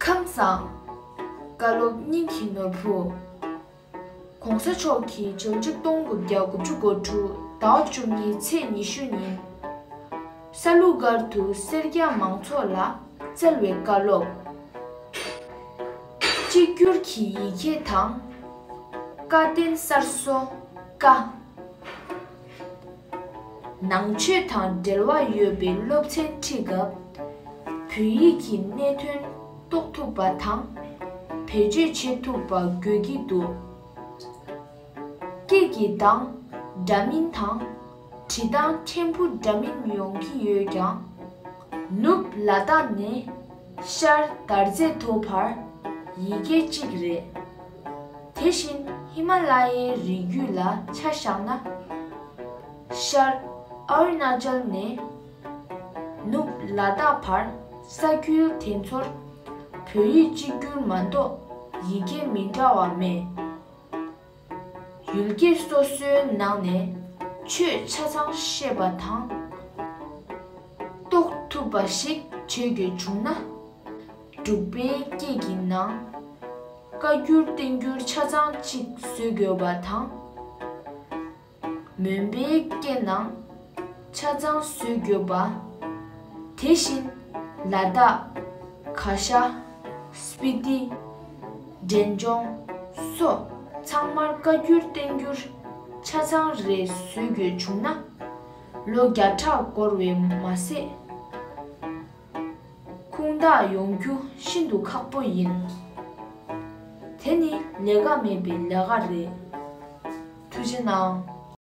ཁམས་བཟང། བཀའ་སློབ་སྙིང་གི་ནོར་བུ། ྋགོང་ས་མཆོག་གིས་བཅུ་གཅིག་སྟོང་དགུ་བརྒྱ་དགུ་བཅུ་གོ་དྲུག་ཟླ་བ་བཅུ་གཉིས་ཚེས་ཉི་ཤུ་ཉིན་ས་ལུ་སྒར་དུ་སེར་སྐྱ་མང་ཚོགས་ལ་སྩལ་བའི་བཀའ་སློབ། གཅིག་གྱུར་གྱི་ཡི་གེ་དང། བཀའ་བསྟན་གསར་བཟོ་བཀའ། ནང་ཆོས་དང་འབྲེལ་བ་ཡོད་པའི་སློབ་ཚན་ཁྲིད་སྐབས། བོད་ཡིག་གི་གནད་དོན་རྟོགས་ཐུབ་པ་དང། བེད་སྤྱོད་བྱེད་ཐུབ་པ་དགོས་ཀྱི་འདུག་སྐད་ཀྱི་གདངས་འདྲ་མིན་དང། བྲིས་སྟངས་ཕྲན་བུ་འདྲ་མིན་ཡོང་གི་ཡོད་ཀྱང། ནུབ་ལ་དྭགས་ནས་ཤར་དར་རྩེ་མཐོ་བར་ཡི་གེ་གཅིག་རེད། དེ་བཞིན་ཧི་མ་ལ་ཡའི་རི་རྒྱུད་ལ་ཆ་བཞག་ན། ཤར་ཨ་རུ་ནཱ་ཅལ་ནས་ནུབ་ལ་དྭགས་བར་ས་ཁུལ་དེ་ཚོར་བོད་ཡིག་གཅིག་གྱུར་མ་གཏོགས་ཡི་གེ་མི་འདྲ་བ་མེད། ཡུལ་སྐད་སོ་སོའི་ནང་ནས་ཆོས་ཆ་ཚང་ཤེས་པ་དང། རྟོགས་ཐུབ་པ་ཞིག་བྱེད་དགོས་བྱུང་ན། འབྲུག་པའི་སྐད་ཀྱི་ནང། བཀའ་འགྱུར་བསྟན་འགྱུར་ཆ་ཚང་གཅིག་བཟོས་དགོས་པ་དང། མོན་པའི་སྐད་ནང། ཆ་ཚང་བཟོས་དགོས་པ། དེ་བཞིན། ལ་དྭགས། ག་ཤ། སྤི་ཏི། འབྲས་ལྗོངས། སོགས་ཚང་མར་བཀའ་འགྱུར་བསྟན་འགྱུར་ཆ་ཚང་རེ་བཟོས་དགོས་བྱུང་ན། ལོ་བརྒྱ་ཕྲག་འགོར་བས་མ་ཟད། ཁུངས་དག་ཡོང་རྒྱུ་ཤིན་ཏུ་ཁག་པོ་ཡིན། དེ་ནི་ལས་ཀ་མེད་པའི་ལས་ཀ་རེད། ཐུགས་རྗེ་གནང།